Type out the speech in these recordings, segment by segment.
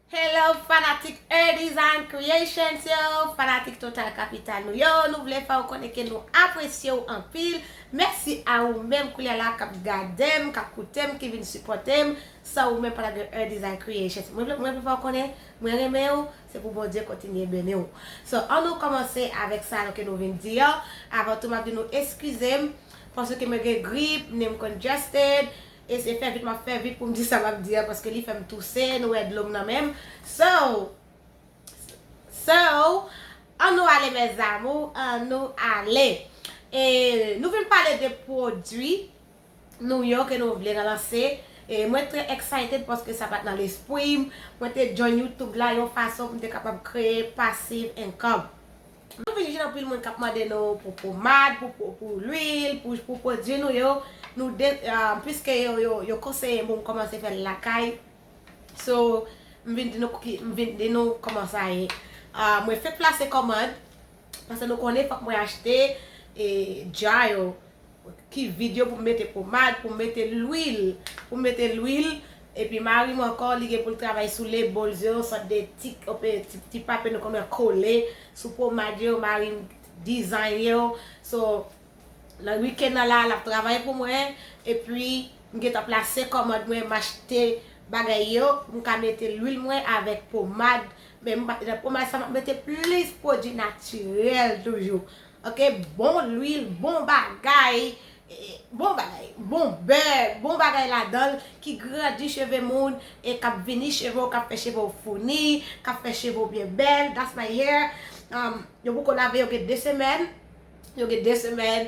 Hello fanatik E-Design Creations yo, fanatik Total Capital nou yo, nou vle fè ou konnen ke nou apresye ou anpil. Mèsi a ou menm koulye la kap gade m, kap koute m, ki vin sipòte m. San ou menm pa tap gen E-Design Creations. Mwen vle fè ou konnen mwen renmen ou, Se pou Bondye kontinye beni w. So an nou komanse avek sa ke nou vin di an, avan tou map di nou eskize m paske mwen gen grip, nen m congested, e se fè vit map fè vit poum di sa map di an paske li fèm touse, nou wè dlo m nan men m. So So an nou ale mes amour, an nou ale. E nou vin pale de pwodwi. New York e nou vle relanse e mwen trè excited paske sa pat nan lespwim mwen te join YouTube la yon fason poum te kapab kreye passive income. Nou vin jwenn anpil moun kap mande nou pou pomad, pou lwil, pou pwodwi nou yo, nou de piske yo konseye m poum kòmanse fèl lakay so m vin di nou m vin di nou kòman sa ye mwen fenk plase kòmand paske nou konnen fòk mwen achte jar yo Ki vide yo pou m mete pomad, pou m mete lwil, pou m mete lwil. Epi mari m ankò li gen pou l travay sou les bols yo, yon sòt de ti ti papye nou konn wè kole sou pomad yo, mari m design yo. So, nan week-end nan la, l ap travay pou mwen. Epi, m gen tan plase kòmand mwen, m achte bagay yo pou m ka mete lwil mwen avèk pomad. Men, nan pomad sa, m ap mete plis pwodui natirèl toujou. Ok bon lwil bon bagay bon bagay bon beurre bon bagay ladanl ki grandi cheve moun e kap vini cheve w kap fè cheve w founi kap fè cheve w byen bèl that's my hair yo poko lave yo gen 2 semèn yo gen 2 semèn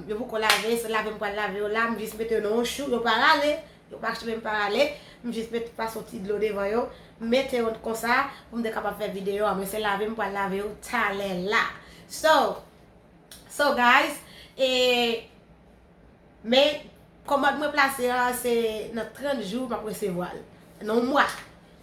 yo poko lave se lave m pral lave yo la m jis mete yo nan yon chou yo pa rale Yo pa kche menm pa ale, m jis met pa son ti dlo devan yo, m mete yo konsa pou m te kapab fè video a. Mwen se lave m pral lave yo talè la. So, so guys, e men kòmand mwen plase a se nan 30 jou m ap resevwa l. Nan yon mwa.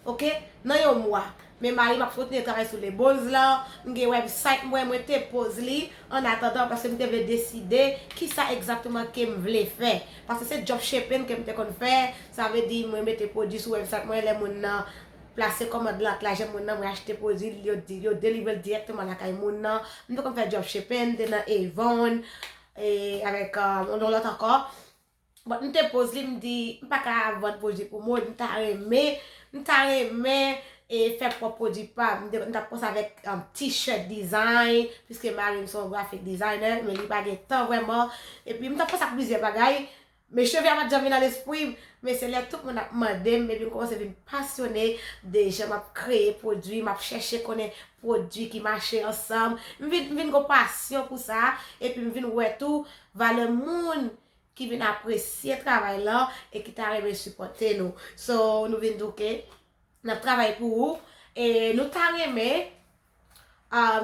Ok nan yon mwa men marim ap kontinye travay sou le buzz lan m gen website mwen mwen te poz li an atandan paske m te vle deside kisa egzakteman kem vle fè paske se dropshipping kem te konn fè sa vle di mwen mete pwodwi sou website mwen lè moun nan plase kòmand lan ak lajan moun nan mwen achte pwodwi li yo di yo delivrel direkteman lakay moun nan m te konn fè dropshipping m te nan Avon e avèk yon lòt ankò. Bon m te poz li m di m pa ka vann pwodwi pou moun m ta renmen m ta renmen e fè pwòp pwodwi pam m tap kòmanse avèk t-shirt design piske mari m se yon graphic designer men li pa gen tan vrèman epi m tap panse ak plizyè bagay men cheve a pat janm vin nan lespri m men se lè tout moun ap mande m epi m kòmanse vin pasyone de jan m ap kreye pwodwi m ap chèche konnen pwodwi ki mache ansanm m vin gen yon pasyon pou sa epi m vin wè tou Valè moun ki vin apresye travay lan e ki ta renmen sipòte nou. So nou vin di w ke n ap travay pou ou e nou ta renmen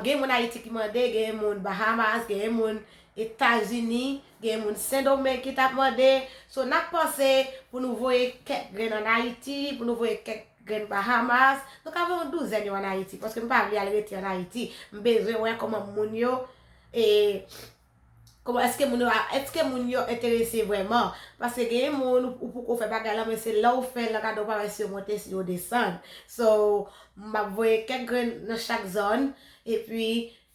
gen moun Ayiti ki mande, gen moun Bahamas, gen moun Etazini, gen moun Sendomeng ki t ap mande. So n ap panse pou nou voye kèk grenn an Ayiti, pou nou voye kèk grenn Bahamas. Nou ka voye yon douzèn yo an Ayiti paske m pa vle al rete an Ayiti. M bezwen wè kòman moun yo e. Kòman eske moun yo a, eske moun yo enterese vrèman? Paske gen yon moun ou poko fè bagay lan men se lè ou fèl lan gade ou pa wè si yo monte si yo desann. So, map voye kèk grenn nan chak zòn epi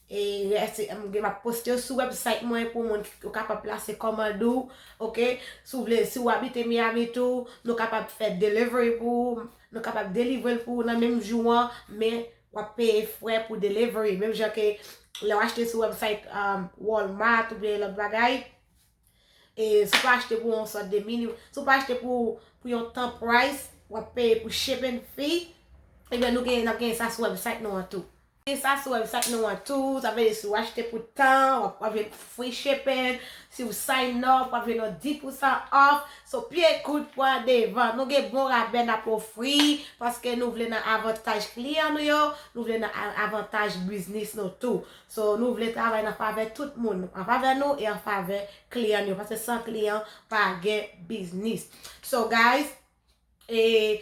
e rès yo map poste yo sou website mwen pou moun ou kapab plase kòmand ou ok. Si w vle, si ou abite Miami tou, nou kapab fè delivery pou ou, nou kapab delivrel pou ou nan menm jou an men Wap peye frè pou delivery. Menm jan ke lè w achte sou website Walmart ou byen lòt bagay. E si w pa achte pou yon sòt de mini. Si w pa achte pou yon tan price. Wap peye pou shipping fee. Ebyen nou gen, nap gen sa sou website nou an tou. Gen sa sou website nou an tou. Sa vle di si w achte pou tan. Wap jwenn free shipping. Si w sign up. Wap jwenn yon 10% off. So pye kout pwa devan. Nou gen bon rabè nap ofri paske nou vle nan avantaj kliyan nou yo, nou vle nan avantaj biznis nou tou. So nou vle travay nan favè tout moun, an favè nou e an favè kliyan nou yo paske san kliyan pa gen biznis. So guys e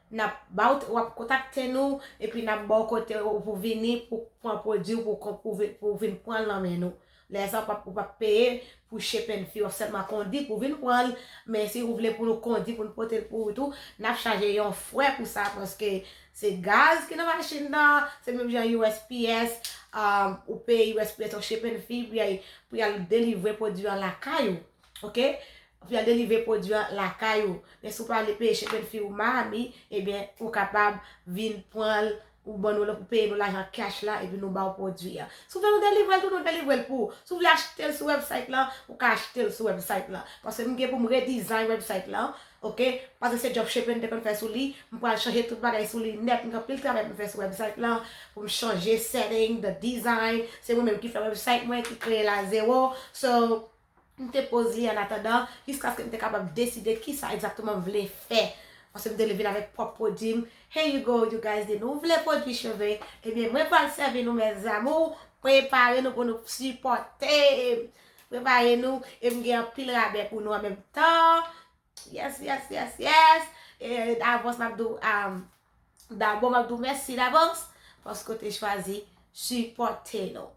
Nap ba w wap kontakte nou epi nap ba w kote w pou vini pou pran pwodwi w pou w vin pran l nan men nou. Lè sa ou pap peye pou shipping fee, wap sèlman kondi pou w vin pran l, men si ou vle pou nou kondi pou nou pote l pou ou tou, nap chaje yon frè pou sa paske se gaz ki nan machin nan, se menm jan usps, ou peye usps yon shipping fee pou y al delivre pwodwi an lakay ou. Ok Pou al delivre pwodwi an lakay ou. Men si w pa vle peye chepen fi ou Mahami, ebyen ou kapab vin pran l ou ban nou ou peye nou lajan cash la epi nou ba w pwodwi an. Si w vle nou delivre l tou, nou delivre l pou ou. Si w vle achte l sou website lan, ou ka achte l sou website lan. Paske m gen pou m redesign website lan, ok, paske se dropshipping m te konn fè sou li, m pral chanje tout bagay sou li nèt, m gen anpil travay pou m fè sou website lan, pou m chanje setting, the design, se mwen menm ki fè website mwen, ki kreye l a zero, so. m te poze an atandan jiskaske m te kapab deside kisa egzakteman m vle fè paske m te vin avèk pwòp pwodui m here you go you guys de nou vle pwodui cheve ebyen mwen pral sèvi nou mes amours prepare nou pou nou sipòte m prepare nou e m gen anpil rabè pou nou an menm tan yes yes yes yes e davans m ap di w am dabò m ap di w mèsi davans paske w te chwazi sipòte nou.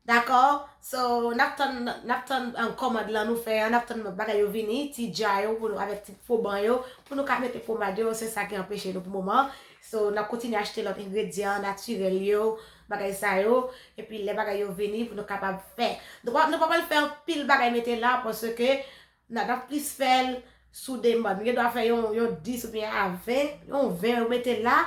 Dakò so nap tann nap tann kòmand lan nou fè an nap tann bagay yo vini ti dja yo pou nou avèk ti fo ban yo pou nou ka mete pomad yo se sa ki anpeche nou pou moman so nap kontinye achte lòt engredyan natirèl yo bagay sa yo epi lè bagay yo vini pou nou kapab fè nou pa pral fè anpil bagay mete la paske Na tap plis fèl sou demann. Nou gen dwa fè yon 10 ou byen a 20, yon 20 ou mete la.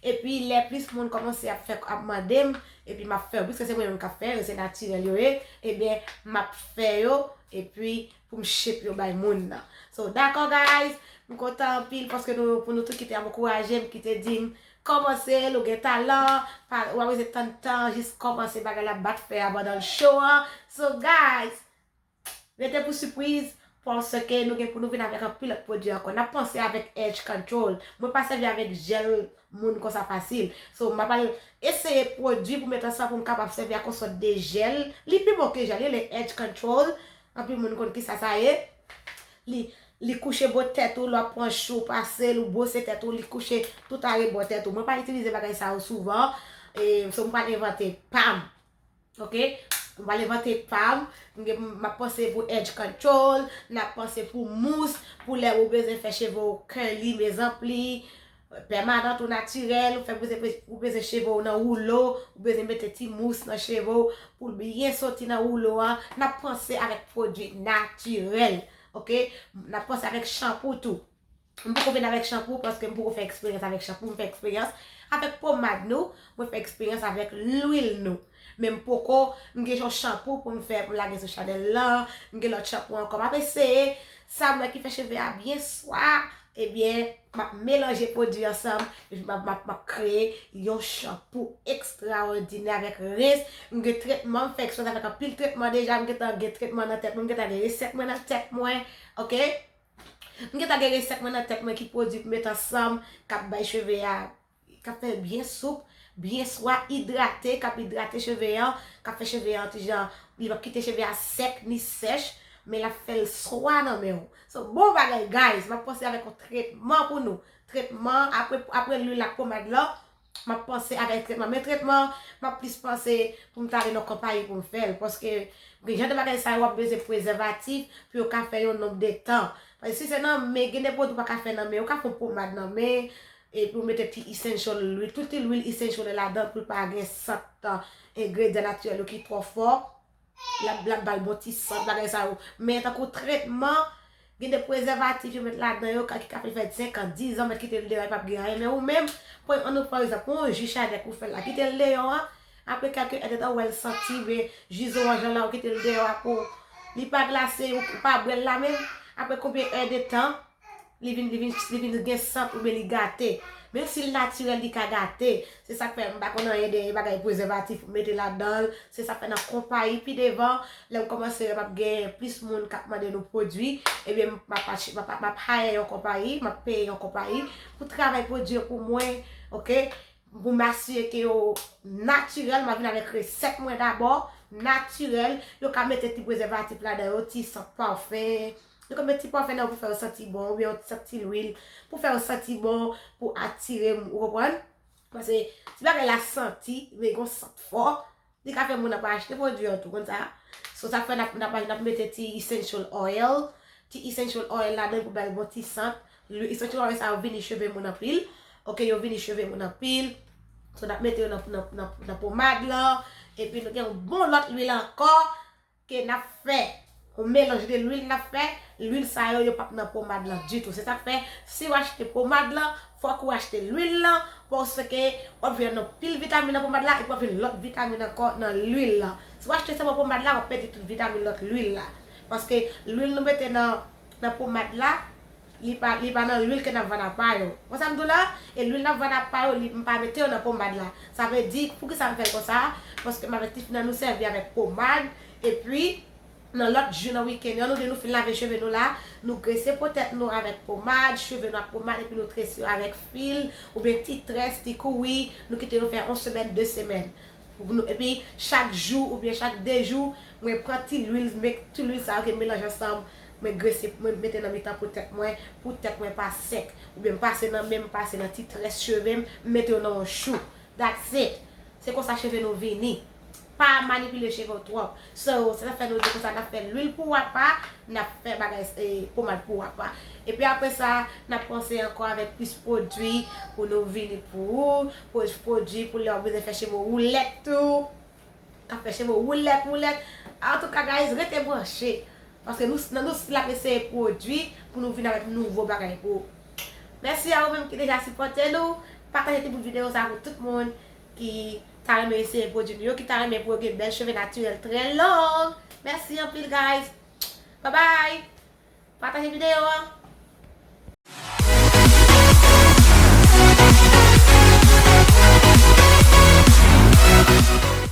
Epi lè plis moun kòmanse ap fè ap mande m, epi map fè yo. Piske se mwen menm kap fè yo, se natirèl yo ye, ebyen map fè yo epi pou m shape yo bay moun nan. So dakò guys, m kontan anpil paske nou pou nou tout ki te ap ankouraje m, ki te di m kòmanse l ou gen talan, pa ou pa bezwen tann tan, jis kòmanse bagay la bat fè a pandan l cho an. So guys. Rete pou sipriz, paske nou gen pou nou vin avèk anpil lòt pwodui ankò. N ap panse avèk edge control. Mwen pa sèvi avèk jèl moun konsa fasil. So, m ap al eseye pwodui pou met ansanm pou m kapab sèvi ak yon sòt de jèl. Li pi bon ke jèl, li rele edge control. Anpil moun konn kisa sa ye. Li, li kouche bò tèt ou lè w ap pran chou ou pase l, ou bwose tèt ou, li kouche tout arebò tèt ou. Mwen pa itilize bagay sa yo souvan. E, so m pral envante pa m. Ok m pral envante pam map panse pou edge control nap panse pou mous pou lè ou bezwen fè cheve ou curly mes anpli pèmanant ou natirèl ou fè ou bezwen cheve ou nan woulo ou bezwen mete ti mous nan cheve ou pou l byen soti nan woulo an nap panse avèk pwodui natirèl ok nap panse avèk chanpou tou. M poko vin avèk chanpou paske m poko fè eksperyans avèk chanpou, m fè eksperyans avèk pomad nou, mwen fè eksperyans avèk lwil nou. Men m poko, m gen yon chanpou pou m fè pou m lage sou chanèl lan, m gen lòt chanpou ankò. M ap eseye, sa m wè ki fè cheve a byen swa, ebyen m ap melanje pwodui ansanm, epi m ap m ap kreye yon chanpou ekstraòdinè avèk rens, m gen tretman, m fè eksperyans avèk anpil tretman deja, m gentan gen tretman nan tèt mwen, m gentan gen resèt mwen nan tèt mwen, ok. M gentan gen resèt mwen nan tèt mwen ki pwodui pou met ansanm kap bay cheve a kap fèl byen soup, byen swa, idrate, kap idrate cheve an, kap fè cheve an ti jan li pap kite cheve a sèk ni sèch men lap fèl swa nan menw. So bon bagay guys map pase avèk yon tretman pou nou, tretman aprè lwil ak pomad lan map panse avèk tretman men tretman an map plis panse poum ta ale nan konpayi poum fèl paske gen jan de bagay sa yo wap bezwen prezèvatif pou yo ka fè yon nonb de tan paske si se nan men gen de pwodwi ou paka fè nan men ou ka fè yon pomad nan men epi ou mete ti essential lwil tout ti lwil essential ladan poul pa gen sant engredyan natirèl yo ki twò fò Yap yap bal bon ti sant bagay sa yo. Men tankou tretman, gen de prezèvatif yo met ladan yo ka ki ka fè li fè 5 an, 10 an, met kite l deyò li pap gen anyen. Men ou menm, pwen an nou pran egzanp, pwen yon ji chadèk ou fè la, kite l deyò an, apre kèlke èd de tan ou wè l santi oubyen ji zoranj lan la ou kite l deyò a pou li pa glase ou pa bwè l la menm, apre konbyen èd de tan, Li vin li vin li vin gen sant oubyen li gate. Menm si l natirèl li ka gate. Se sa k fè m pa konn anyen de bagay prezèvatif pou mete ladan l. Se sa k fè nan konpayi pi devan, lè m kòmanse wè m ap gen plis moun k ap mande nou pwodui, ebyen m ap achte, m ap hire yon konpayi, m ap peye yon konpayi pou travay pwodui yo pou mwen, ok. Pou m asire ke yo natirèl, m ap vin avèk resèt mwen dabò, natirèl. Yo ka mete ti prezèvatif ladan yo, ti sant pafen, Nou ka met ti pwafen nan pou fè yo santi bon oubyen yon sak ti lwil pou fè yo santi bon, pou atire moun, ou konprann? Pase ti bagay la santi, li gon sant fò, li ka fè moun ap achte pwodui an tou, ou konn sa? So sa fè nap nap nap mete ti essential oil, ti essential oil ladann pou bal bon ti sant, lwi essential oil sa yo vini cheve moun anpil, ok yo vini cheve moun anpil, so nap mete yo nan nan nan nan pomad lan, epi nou gen yon bon lòt lwil ankò, ke nap fè yon melanj de lwil nap fè, lwil sa yo yo pap nan pomad lan ditou se sak fè siw achte pomad lan fòk ou achte lwil lan paske wap jwenn yon pil vitamin nan pomad la epi wap jwenn lòt vitamin ankò nan lwil lan si w achte sèlman pomad la wap pèdi tout vitamin lòt lwil la paske lwil nou mete nan nan pomad la Li pa li pa nan lwil ke nap vann a pa yo. Wè sam diw la? E lwil nap vann a pa yo li m pa mete yo nan pomad la. Sa vle di poukisa m fèl konsa? Paske m avèk ti fi nan nou sèvi avèk pomad epi nan lòt jou nan weekend yo nou de nou fin lave cheve nou la nou grese po tèt nou avèk pomad, cheve nou ak pomad epi nou trese yo avèk fil oubyen ti très, ti kouwi nou kite yo fè on semèn, 2 semèn. Epi chak jou oubyen chak 2 jou mwen pran ti lwil mek ti lwil sa yo ke m melanje ansanm mwen grese mwen mete nan mitan po tèt mwen pou tèt mwen pa sèk oubyen m pase nan men m pase nan ti très cheve m m mete yo nan yon chou that's it se konsa cheve nou vini pa manipile cheve w twòp. Sè yo, se sa k fè nou di konsa, n ap fè luil pou apa, n ap fè bagay pomad pou apa. Epi apre sa, n ap panse ankò avèk plis pwodui pou nou vini pou ou, pwoj pwodui pou lè ou bezwen fè cheve w woulèt tou, k ap fè cheve w woulèt woulèt. Antouka guys, rete branche, paske nou nan nou stil ap eseye pwodui pou nou vini avèk nouvo bagay pou ou. Mèsi a ou menm ki deja sipòte nou, pataje ti bout videyo sa pou tout moun ki ta renmen eseye pwodwi nou yo ki ta renmen pou yo gen bèl cheve natirèl trè long mèsi anpil guys babay pataje videyo an.